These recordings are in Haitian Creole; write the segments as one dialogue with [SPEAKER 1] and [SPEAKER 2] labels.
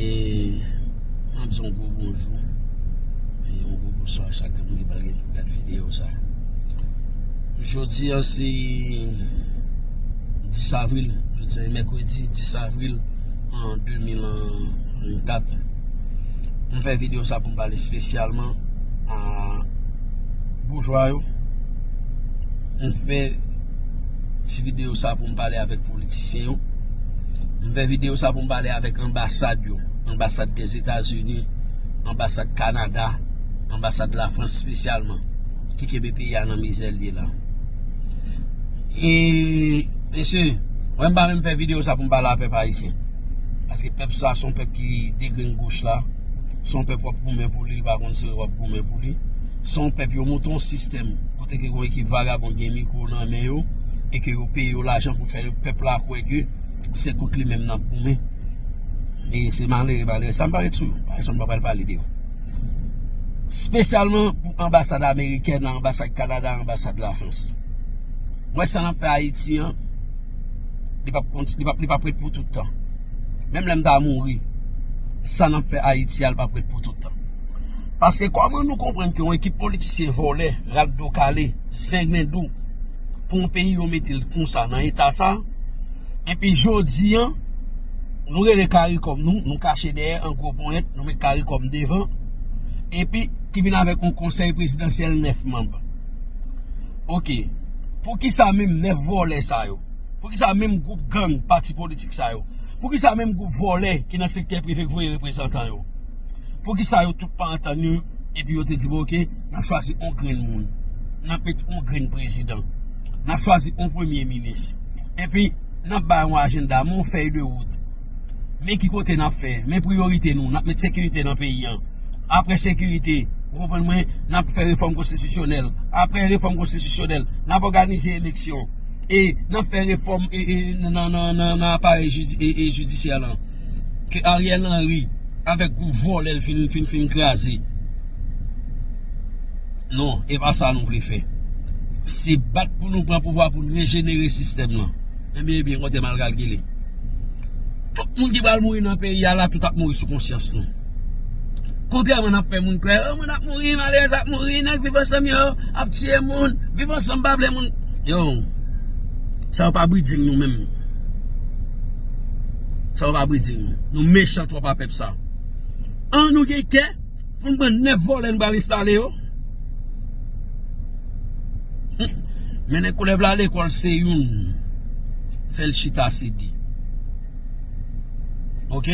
[SPEAKER 1] E mwen ap di yon gwo bonjou E yon gwo bonswa a chak moun ki pral gen pou gad videyo sa Jodi an se 10 avril Jodi an se mèkredi 10 avril an 2024 Mwen fè videyo sa pou m pale spesyalman a boujwa yo Mwen fè Ti video sa pou m pale avèk politisyen yo M fè video sa pou m pale avèk anbasad yo Anbasad Dèzetazini Anbasad Kanada Anbasad Lafrans spesyalman Ki kenbe peyi a nan mizè l ye la E Mesye Mwen m pa menm fè video sa pou m pale a pèp ayisyen Paske pèp sa son pèp ki degrenn goch la Son pèp w ap goumen pou li li pa konn si w ap goumen pou li Son pèp yo monte yon sistèm Kote ke yon ekip vagabond gen mikro nan men yo e ke yo peye yo lajan pou fè pèp la kwè ke se kont li menm nap goumen e se malere malere sa m pale sou yo paske m pa pral pale de yo spesyalman pou anbasad amerikèn la anbasad kanada anbasad la frans m wè sa nap fè ayiti an li pap konti li pap li pap ret pou toutan menm lè m ta mouri sa nap fè ayiti a li pap ret pou toutan. Paske kòman nou konprann ke yon ekip politisyen vòlè, rat do kale, zenglendo pou yon peyi yo mete l konsa nan eta sa epi jodi an nou rele karikòm nou, nou kache dèyè an gwo ponyèt nou met karikòm devan epi ki vin avèk yon konsèy prezidansyèl 9 manb ok poukisa menm 9 vòlè sa yo poukisa menm gwoup gang pati politik sa yo poukisa menm gwoup vòlè ki nan sektè prive k voye reprezantan yo. Poukisa yo tout pa antann yo epi yo te di bon ok nap chwazi on grenn moun nap met on grenn prezidan nap chwazi on premye minis epi nap bay on ajenda men on fèy de wout men ki kote nap fè men priyorite nou nap met sekirite nan peyi an apre sekirite ou konprann mwen nap fè refòm konstitisyonèl apre refòm konstitisyonèl nap òganize eleksyon e nap fè refòm nan aparèy jidisyè lan. ke Ariel Henry avèk gwoup vòlè l fin fin kraze non e pa sa nou vle fè se bat pou nou pran pouvwa pou nou rejenere sistèm nan ebyen ebyen kote mal kalkile tout moun ki pral mouri nan peyi a la tout ap mouri sou konsyans nou kontrèman nan fè moun kwè moun ap mouri malèrèz ap mouri nèg viv ansanm yo ap tiye moun viv ansanm pa vle moun yo sa yo pa bridjing nou menm Salopard Brésil nou. Nou mechan trop a pep sa. An nou gen kè pou nou pran 9 vole nou pral enstale yo. Mennen koulèv la lekol se youn fel chita se 2. Ok.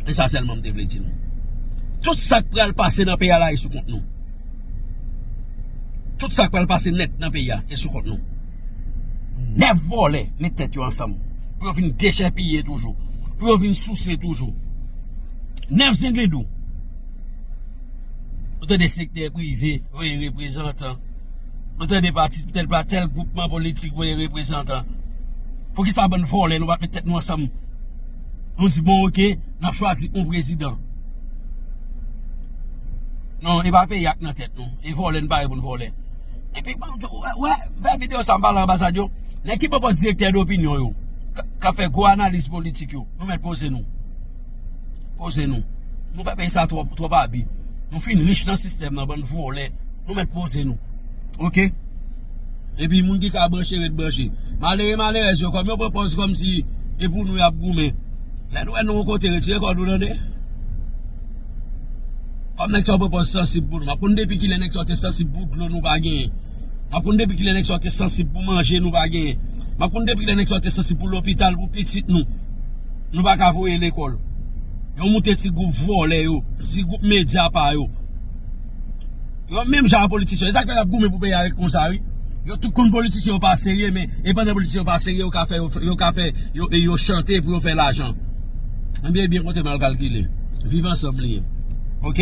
[SPEAKER 1] E sa selman m te vle di nou. Tout sak pral pase nan peyi a la e sou kont nou. Tout sak pral pase net nan peyi a e sou kont nou. 9 vòlè met tèt yo ansanm pou yo vin dechèpiye toujou pou yo vin souse toujou 9 zenglendou ou tande sektè prive voye reprezantan ou tande pati tèl pa tèl goupman politik voye reprezantan poukisa bann vòlè nou pat met tèt nou ansanm nou di bon ok nan chwazi yon prezidan non e pa peyi ak nan tèt nou e vòlè nou pa gen pou nou vòlè Epi banm di ou wè vè video sa m'pale anbasad yo nèg ki poko direktè dopinyon yo kap fè gwo analiz politik yo nou mèt poze nou poze nou nou fè peyi sa twòp twòp abi nou fin rich nan sistèm nan bann vòlè nou mèt poze nou ok epi moun ki ka branche ret branche malere malerèz yo kòm yo pran pòz kòm si e pou nou yap goumen lè nou wè nou yon kote retire kòd ou tande. Pam nèg sa yo pran pòz sansib pou nou Map konn depi kilè nèg sa yo te sansib pou dlo nou pa genyen Map konn depi kilè nèg sa yo te sansib pou manje nou pa genyen Map konn depi kilè nèg sa yo te sansib pou lopital pou pitit nou Nou pa ka voye lekòl Yo moute ti gwoup vòlè yo Ti gwoup medya pa yo Menm jan a politisyen yo. E sak fè yap goumen pou peyi a ret konsa wi. Yo tout konn politisyen yo pa serye men e pandan politisyen yo pa serye yo ka fè yo ka fè yo chante pou yo fè lajan. Ebyen ebyen konte mal kalkile. Viv ansanm li ye. Ok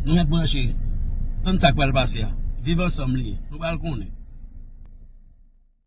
[SPEAKER 1] nou ret branche. Tann sak pral pase a. Viv ansanm li ye. Nou pral konnen.